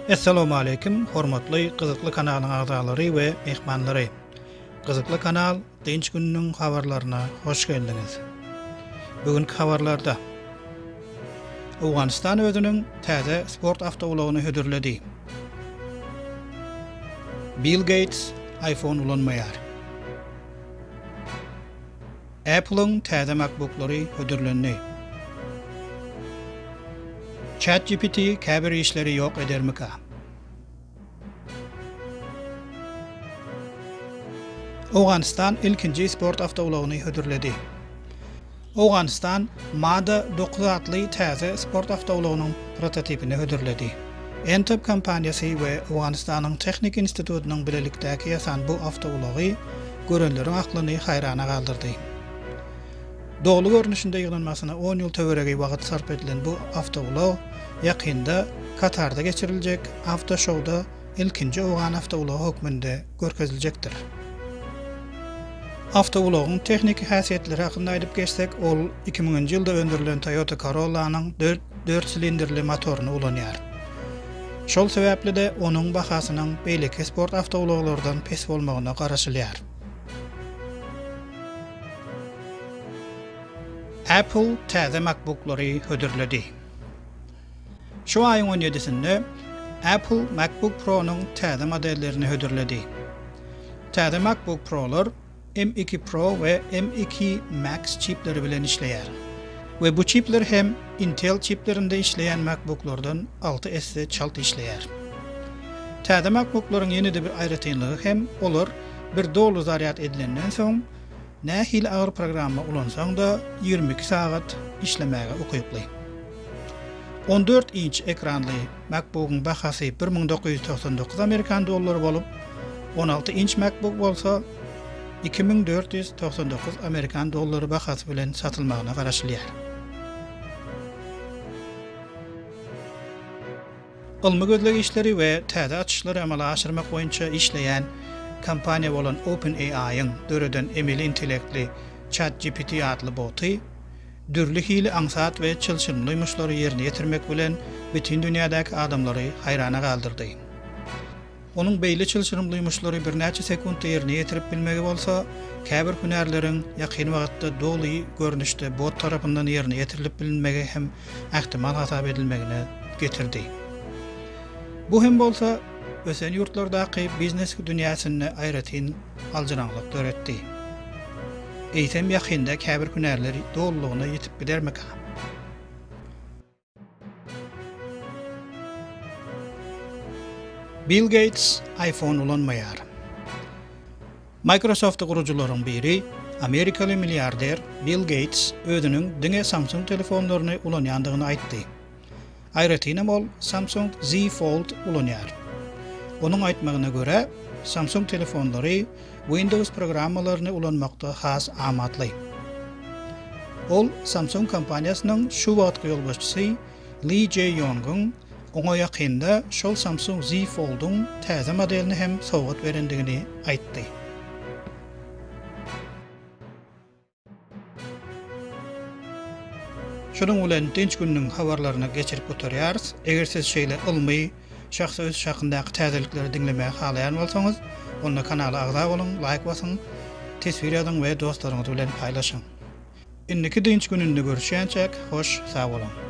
Essalawmaleýkim hormatly gyzykly kanalyň agzalary we myhmanlary. Gyzykly kanal Dynç gününiň habarlaryna hoş geldiňiz. Bu günki habarlarda Owganystan özüniň täze sport awtoulagyny hödürledi. Bill Geýts iPhone ulanmaýar. Apple-yň täze MacBook-lary hödürlendi. ChatGPT käbir işleri ýok edermika? Owganystan ilkinji sport awtoulagyny hödürledi. Owganystan MADA dokuz atly täze sport awtoulagynyň prototipini hödürledi. Entop kompaniýasy we Owganystanyň Tehniki institutynyň bilelikdäki ýasan bu awtoulagy görenleriň aklyny haýrana galdyrdy. Doly görnüşinde ýygnanmasyna on ýyl töweregi wagt sarp edilen bu awtoulag ýakynda Katarda geçiriljek awtoşouda ilkinji owgan awtoulagy hökmünde görkeziljekdir. Awtoulagyň tehniki häsiýetleri hakynda aýdyp geçsek, ol iki müňünji ýylda öndürilen Toyota Corolla-nyň dört silindrli motoryny ulanýar. Şol sebäpli-de onuň bahasynyň beýleki sport awtoulaglardan pes bolmagyna garaşylýar. Apple täze MacBook-lary hödürledi. Şu aýyň on ýedisinde Apple MacBook Pro-nyň täze modellerini hödürledi. Täze MacBook Pro-lar M2 Pro we M2 Max çipleri bilen işleýär we bu çipler hem Intel çiplerinde işleýän MacBook-lardan alty esse çalt işleýär. Täze MacBook-laryň ýene-de bir aýratynlygy hem olar bir doly zarýad edilenden soň Nähili agyr programma ulansaň-da ýigrimi iki sagat işlemäge ukyply. On dört inç ekranly MacBook-yň bahasy bir müň dokuz ýüz togsan dokuz amerikan dollary bolup, on alty inç MacBook bolsa iki müň dört ýüz togsan dokuz amerikan dollary bahasy bilen satylmagyna garaşylýar. Ylmy-gözleg işleri we täze açyşlary amala aşyrmak boýunça işleýän kompaniýa bolan OpenAI-yň döreden emeli intellektli ChatGPT atly boty dürli hili aňsat we çylşyrymly ýumuşlary ýerine ýetirmek bilen bütin dünýädäki adamlary haýrana galdyrdy. Onuň beýle çylşyrymly ýumuşlary birnäçe sekuntda ýerine ýetirip bilmegi bolsa, käbir hünärleriň ýakyn wagtda doly görnüşde bot tarapyndan ýerine ýetirilip bilinmegi hem ähtimal hasap edilmegine getirdi. Bu hem bolsa, ösen ýurtlardaky biznes dünýäsinde aýratyn aljyraňlyk döretdi. Eýsem ýakynda käbir hünärler dolulygyna ýitip gidermikä? Bill Geýts iPhone ulanmaýar. Microsoft-y gurujylaryň biri, amerikaly milliarder Bill Geýts özüniň diňe Samsung telefonlaryny ulanýandygyny aýtdy. Aýratynam ol Samsung Z Fold ulanýar. Onuň aýtmagyna görä, Samsung telefonlary Windows programmalaryny ulanmakda has amatly. Ol Samsung kompaniýasynyň şu wagtky ýolbaşçysy Li Jae Ýongyň oňa ýakynda şol Samsung Z Fold-yň täze modelini hem sowgat berendigini aýtdy. Şunuň bilen dynç gününiň habarlaryny geçirip gutarýarys. Eger siz şeýle ylmy, şahsy ösüş hakyndaky täzelikleri diňlemäge halaýan bolsaňyz, onda kanala agza boluň, laýk basyň, teswir ýazyň we dostlaryňyz bilen paýlaşyň. Indiki dynç gününde görüşýänçäk, hoş sag boluň!